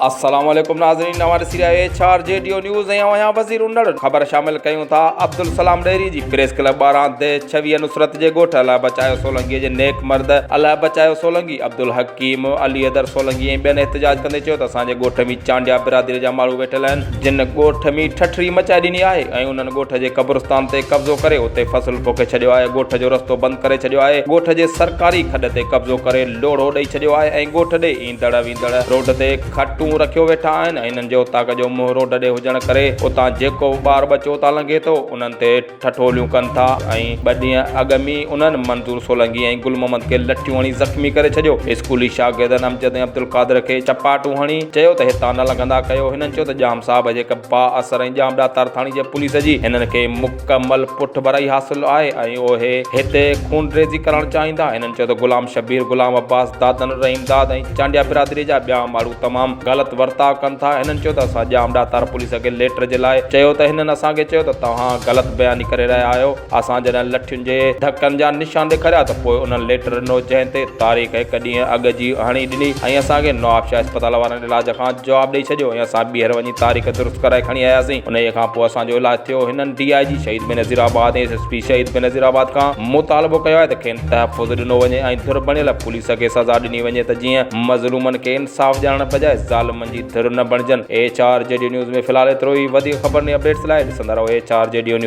السلام عليڪم ناظرين اوهان ڏسي رهيا ايڇ آر جي ڊيو نيوز ۽ اوهان وزير انڙ خبر شامل ڪيون ٿا عبدالسلام ڏهري جي پريس ڪلب ٻارهان دي ڇويهه نصرت جي ڳوٺ الله بچايو سولنگي جي نيڪ مرد الله بچايو سولنگي عبدالحڪيم علي حيدر سولنگي ۽ ٻين احتجاج ڪندي چيو ته اسان جي ڳوٺ ۾ چانڊيا برادري جا ماڻهو ويٺل آهن جن ڳوٺ ۾ ٺٺري مچائي ڏني آهي ۽ انهن ڳوٺ جي قبرستان تي قبضو ڪري اتي فصل پوکي ڇڏيو آهي ڳوٺ جو رستو بند ڪري ڇڏيو آهي ڳوٺ جي سرڪاري کڏ تي قبضو ڪري لوڙهو ڏئي ڇڏيو آهي ۽ ڳوٺ ڏي ايندڙ ويندڙ روڊ تي کٽون رکيو ويٺا آهن انهن جي اوطاق جو منهن روڊ ڏي هجڻ ڪري اتان جيڪو به ٻار ٻچو اتان لنگهي ٿو انهن تي ٺٺوليون ڪن ٿا ۽ ٻه ڏينهن اڳ م ئي انهن منظور سولنگي ۽ گل محمد کي لٺيون هڻي زخمي ڪري ڇڏيو اسڪولي شاگردن امجد ۽ عبدالقادر کي چپاٽون هڻي چيو ته هتان نه لنگهندا ڪيو هنن چيو ته ڄام صاحب هجي هڪ با اثر ۽ ڄام ڏاتار ٿاڻي جي پوليس جي هنن کي مڪمل پٺڀرائي حاصل آهي ۽ اهي هتي خونريزي ڪرڻ چاهيندا هنن چيو ته غلام شبير غلام عباس دادن رحيم داد ۽ چانڊيا برادري جا ٻيا ماڻهو تمام غلط ورتاء ڪن ٿا هنن چيو ته اسان ڄام ڏاتار پوليس کي ليٽر جي لاء چيو ته هنن اسان کي چيو ته توهان غلط بياني ڪري رهيا آهيو اسان جڏهن لٺين جي ڌڪن جا نشان ڏيکاريا ته پوء انهن ليٽر ڏنو جنهن تي تاريخ هڪ ڏينهن اڳ جي هڻي ڏني ۽ اسان کي نوابشاهه اسپتال وارن علاج کان جواب ڏئي ڇڏيو ۽ اسان ٻيهر وڃي تاريخ درست ڪرائي کڻي آياسين انهي کان پوء اسان جو علاج ٿيو هنن D I G Shaheed Benazirabad ۽ S S P Shaheed Benazir آباد کان مطالبو ڪيو آهي ته کين تحفظ ڏنو وڃي ۽ ڌر بڻيل پوليس کي سزا ڏني وڃي ته جيئن مظلومن کي انصاف ڏيارڻ بجاء ظالمن جي ڌر نه بڻجن ايڇ آر جي ڊيو نيوز ۾ في الحال ايترو ئي وڌيڪ خبرن ۽ اپڊيٽس لاء ڏسندا رهو ايڇ آر جي ڊيو نيوز.